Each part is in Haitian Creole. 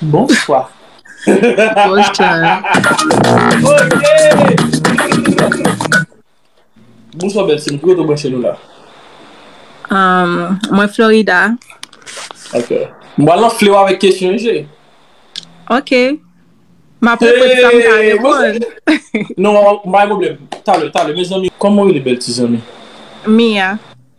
Bonswa. Bonswa bèl sèm, ki kote ou branche nou la? Mwen Florida. Ok. M pral anfle w avèk kesyon wi cheri. Ok. M ap repete sa m ka reponn. Non, pa gen pwoblèm. Talè, talè. Mezanmi, kòman ou rele bèl ti zanmi? Mia.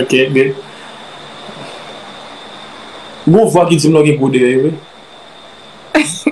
Ok good. Gon vwa ki dim non gen gwo dèyè wi.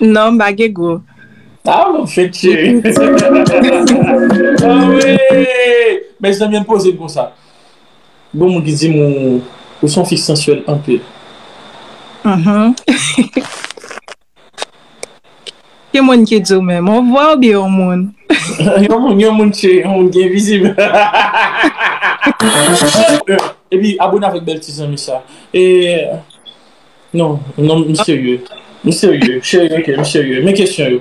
Non m pa gen gwo. Ah m ap fenk cheri. Anmweyy. Mezanmi ann poze l konsa. Gon moun ki dim ou son fi sansyèl anpil. Uhmm. Ki moun ki di w menm? On vwa oubyen yon moun? Yon moun, yon moun che, yon moun ki envizib. Epi abone avèk bèl ti zanmi sa. E Non, non m serye. M serye, cheri ok, m serye. Men kesyon yo.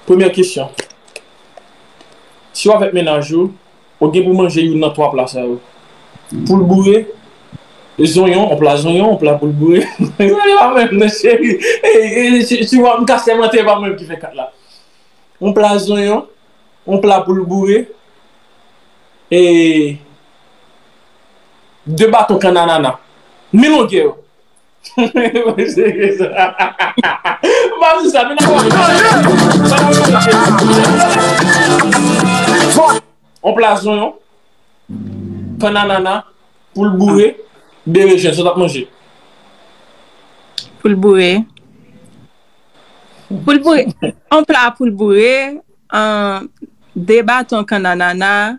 Premyè kesyon. Si w avèk mennaj ou. Ou gen pou manje youn nan twa pla sa yo. Poul boure, zonyon, yon pla zonyon, yon pla poul boure. Se pa menm nan cheri. Si wap mka sèmante e pa mwen ki fè 4 la. Yon pla zonyon, yon pla poul boure e 2 baton kannanana. Mi longè yo. On plas zonyon, pan anana, poul boure, berejen. Sa w t ap manje? Poul boure. On pla poul boure, 2 baton kan anana.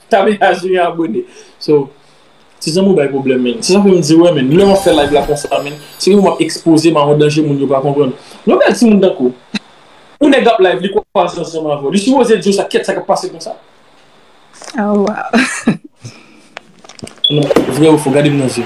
Tamia jwenn yon abone So Ti zanmi w bay pwoblèm menn Se sa fè m di w wè menn Lè wap fè live la konsa menn Se kòm wap ekspoze m a yon danje moun yo pa konprann Yon bèl ti moun tankou w Yon nèg ap live li kwaz ansanm avè w Li sipoze di w sa Kèt sa kap pase konsa Oh waww Non vrè ou fo Gade m nan zye.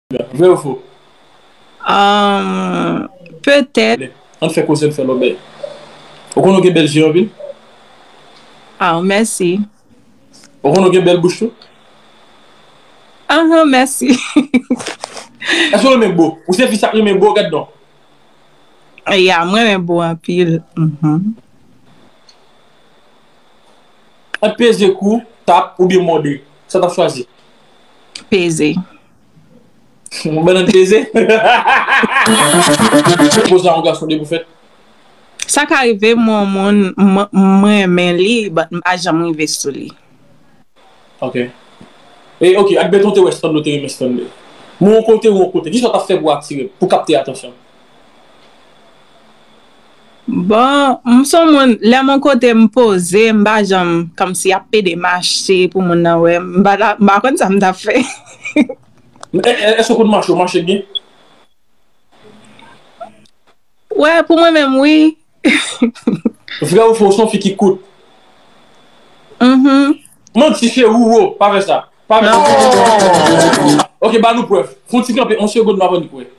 Vre ou fo? Umm petèt. Ann fè koze n fè lòbèy. Ou konnen w gen bèl je anpil? Aww mèsi. Ou konnen w gen bèl bouch tou? Anhan mèsi. Èske w renmen bo? Ou se fi sa k renmen bo? Gad donk. Ya m renmen bo anpil. Ant peze kou, tap, oubyen mòde, sa w t ap chwazi? Peze. Yon bannan peze. Poz la yon gason depi w fèt. Sa ka rive m wè yon moun m renmen li but m pa janm rive sou li. Ok. E ok, ak Beton te wè Stanley te renmen Stanley. Mwen yon kote ou yon kote, kisa w tap fè pou w atire m, pou w kapte atansyon m? Bon, m s on moun, lè m on kote m poze, m pa janm kòmsi ap pede mache pou moun nan wè m. M pa ta, m pa konn sa m t ap fè. Èske w konn mache? Ou mache byen? Wè, pou mwen menm wi. Vrè ou fo, ou s on fi ki kout? Mh. Manti cheri ou wo, pa fè sa. Pa fè sa. Ok, ba nou prèv. Fon ti kanpe on segond m avan n kwè.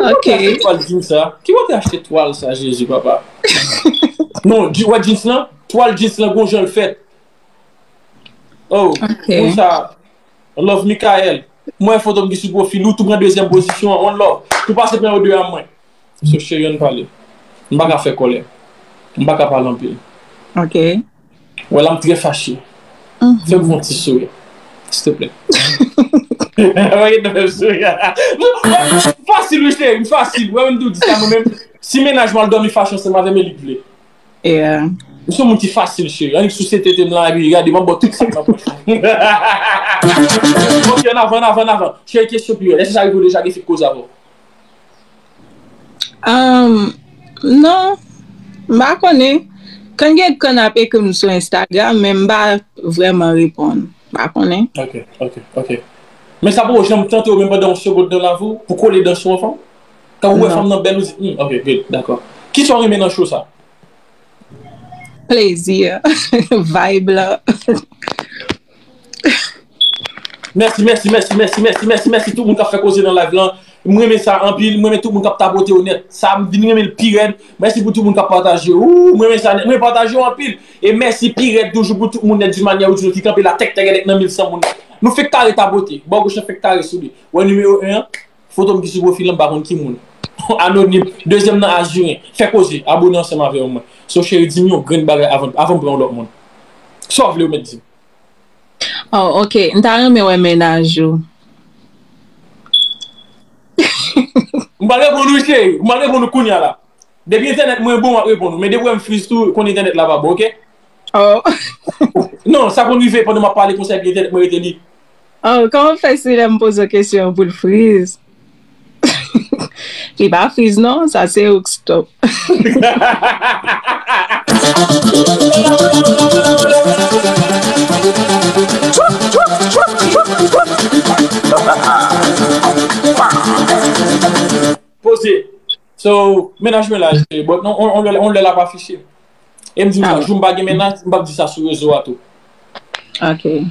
Ok. Ki kote ou achte twal jeans sa? Ki kote ou achte twal sa Jezi papa? Non, ou wè jeans lan? Twal jeans lan gon jan l fèt. Oh, moun sa Love Mickael. M wè foto m ki sou pwofil ou, tou pran dezyèm pozisyon an. One love. Tou pase pran yo 2 a mwen. So cheri ann pale. M pa ka fè kòlè. M pa ka pale anpil. Ok. Wè la m trè fache. Fè m fon ti souri. Stplè. Wè nan fè m souri. M fasil wi cheri, m fasil. Wè menm tou di sa mwen menm. Si mennaj mwen al dòmi fache ansanm avè m e li k vle. M son moun ki fasil cheri. Annik souse tete m lan epi gade m ap ba w tout sa k nan pòch lan. Ok annavan annavan annavan. Cheri kesyon pi rèd. Èske sa rive w deja gen fi k koze avè w? Ahm non m pa konnen kan gen kan ap ekri m sou Instagram men m pa vrèman reponn m pa konnen. Ok ok ok men sa poko janm tante w menm pandan yon segond nan lavi w pou kole dan sou yon fanm? Kan ou wè fanm nan bèl ou di humm ok good dakò. Kisa w renmen nan show sa? Plezi an, vibe lan. Mèsi mèsi mèsi mèsi mèsi mèsi mèsi tout moun kap fè koze nan live lan m renmen sa anpil m renmen tout moun kap tapote yo nèt sa m vin renmen l pirèd mèsi pou tout moun kap pataje ooh m renmen sa nèt m renmen pataje yo anpil e mèsi pirèd toujou pou tout moun nèt di manyè ou di nou ki kanpe la tèktègèdèk nan 1100 moun nou fèk kare tapote bò goch lan fèk kare sou li wè nimewo 1 an. Foto m ki sou pwofil lan m pa konn ki moun. Anonim, dezyèm nan Azuren, fè koze, abone ansanm avèw mwen. So cheri dim yon grenn bagay avan avanm pran yon lòt moun. Sa w vle ou mèt dim. Oh ok m ta renmen wè mennaj ou. M pral reponn ou cheri, m pral reponn ou kounya la. Depi entènèt mwen bon m ap reponn ou, men depi w wè m friz tou konn entènèt la pa bon ok. Oh. Non sa konn rive pandan m ap pale konsèy epi entènèt mwen rete lib. Oh kòman fè si lèm pozo kesyon an poul friz li pa friz non sa se ouk stop. Poze So mennaj mwen la cheri but on lè lap afiche Em dim sa jou m pa gen mennaj m pap di sa sou rezo a tou. Ok.